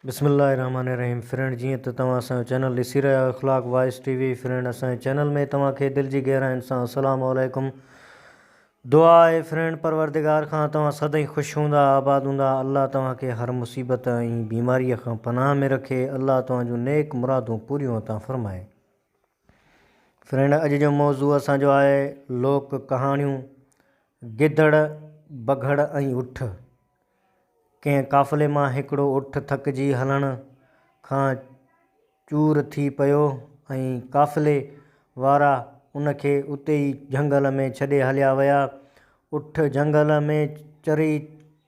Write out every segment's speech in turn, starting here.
بسم الله الرحمٰن الرحيم فرينڊ جيئن ته توهان اسان جو چينل ڏسي رهيا آهيو اخلاق وائس ٽي وي فرينڊ اسان جي چينل ۾ توهان کي دل جي گهراين سان السلام عليڪم دعا آهي فرينڊ پروردگار کان توهان سدائين خوش هوندا آباد هوندا الله توهان کي هر مصيبت ۽ بيماري کان پناهه ۾ رکي الله توهان جون نيڪ مرادون پوريون عطا فرمائي فرينڊ اڄ جو موضوع اسان جو آهي لوڪ ڪهاڻيون گدڙ بگهڙ ۽ اٺ ڪنهن قافلي مان هڪڙو اٺ ٿڪجي هلڻ کان چور ٿي پيو ۽ قافلي وارا ان کي اتي ئي جهنگل ۾ ڇڏي هليا ويا اٺ جهنگل ۾ چري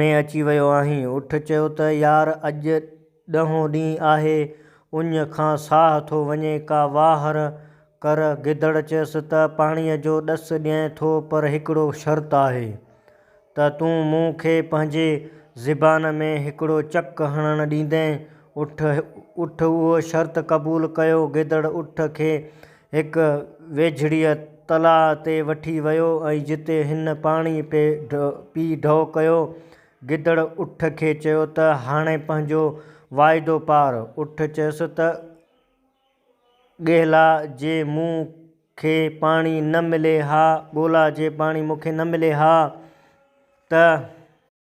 ۾ اچي ويو آهين. اٺ چيو ته يار اڄ ڏهون ڏينهن آهي، اڃ کان ساهه ٿو وڃي، ڪا واهر ڪر. گدڙ چيس ته پاڻيء جو ڏس ڏيئين ٿو پر هڪڙو شرط آهي ته تون مون کي پنهنجي زبان ۾ هڪڙو چڪ هڻڻ ڏيندين. اٺ اٺ اهو شرط قبول ڪيو. گدڙ اٺ کي هڪ ويجهڙيء تلاء تي وٺي ويو ۽ جتي هن پاڻي پي ڍؤ ڪيو. گدڙ اٺ کي چيو ته هاڻي پنهنجو واعدو پار. اٺ چيس ته ڳهلا جي مون کي پاڻي نه ملي ها، ڳولا جي پاڻي مون کي نه ملي ها ته.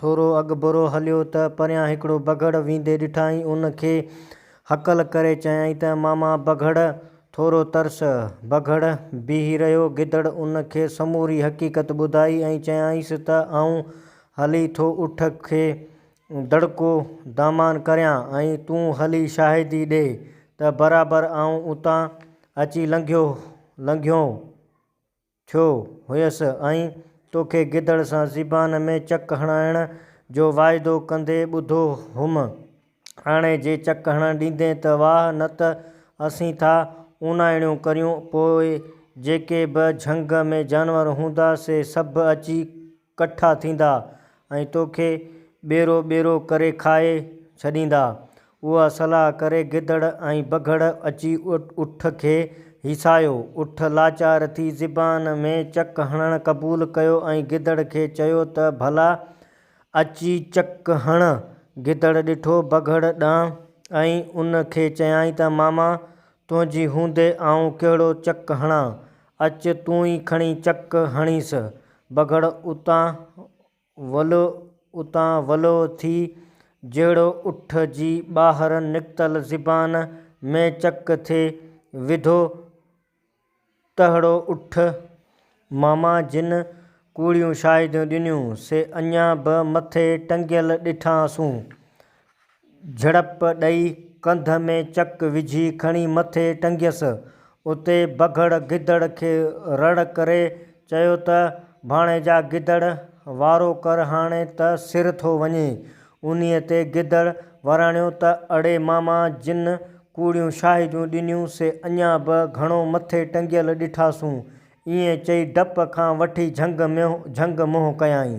ٿورو اڳڀرو هليو ته پريان هڪڙو بگهڙ ويندي ڏٺائين، ان کي هڪل ڪري چيائين ته ماما بگهڙ، ٿورو ترس! بگهڙ بيهي رهيو، گدڙ ان کي سموري حقيقت ٻڌائي ۽ چيائينس ته آئون هلي ٿو اٺ کي دڙڪو دامان ڪريان ۽ تون هلي شاهدي ڏي ته برابر آئون اتان اچي لنگهيو لنگهيو. ٿيو هيس ۽ توکي گدڙ سان زبان ۾ چڪ هڻائڻ جو واعدو ڪندي ٻڌو هئم. هاڻي جي چڪ هڻڻ ڏيندين ته واهه نه ته اسين ٿا اوناهيڙيون ڪريون، پوء جيڪي به جهنگ ۾ جانور هوندا سي سڀ اچي ڪٺا ٿيندا ۽ توکي ٻيرو ٻيرو ڪري کائي ڇڏيندا. اها صلاح ڪري گدڙ ۽ بگهڙ اچي اٺ کي هيسايو. اٺ لاچار ٿي زبان ۾ چڪ هڻڻ قبول ڪيو ۽ گدڙ کي چيو ته ڀلا اچي چڪ هڻ. گدڙ ڏٺو بگهڙ ڏانهن ۽ ان کي چيائين ته ماما تنهنجي هوندي آئون ڪهڙو چڪ هڻان، اچ تون ئي کڻي چڪ هڻيس. بگهڙ اتان ولو اتان ولو ٿي، جهڙو اٺ جي ٻاهر نڪتل زبان ۾ چڪ ٿي وڌو، ٽهڙو اٺ، ماما جن ڪوڙيون شاهديون ڏنيون، سي اڃا به مٿي ٽنگيل ڏٺاسون. جهڙپ ڏئي ڪنڌ ۾ چڪ وجهي کڻي مٿي ٽنگيس. اتي بگهڙ گدڙ کي رڙ ڪري چيو ته ڀاڻيجا گدڙ وارو ڪر هاڻي ته سر ٿو وڃي. انهيء تي گدڙ وراڻيو ته اڙي ماما جن ڪوڙيون شاهديون ڏنيون سي اڃا به گهڻو مٿي ٽنگيل ڏٺاسون. ائين چئي ڊپ کان وٺي جهنگ منهن ڪيائين.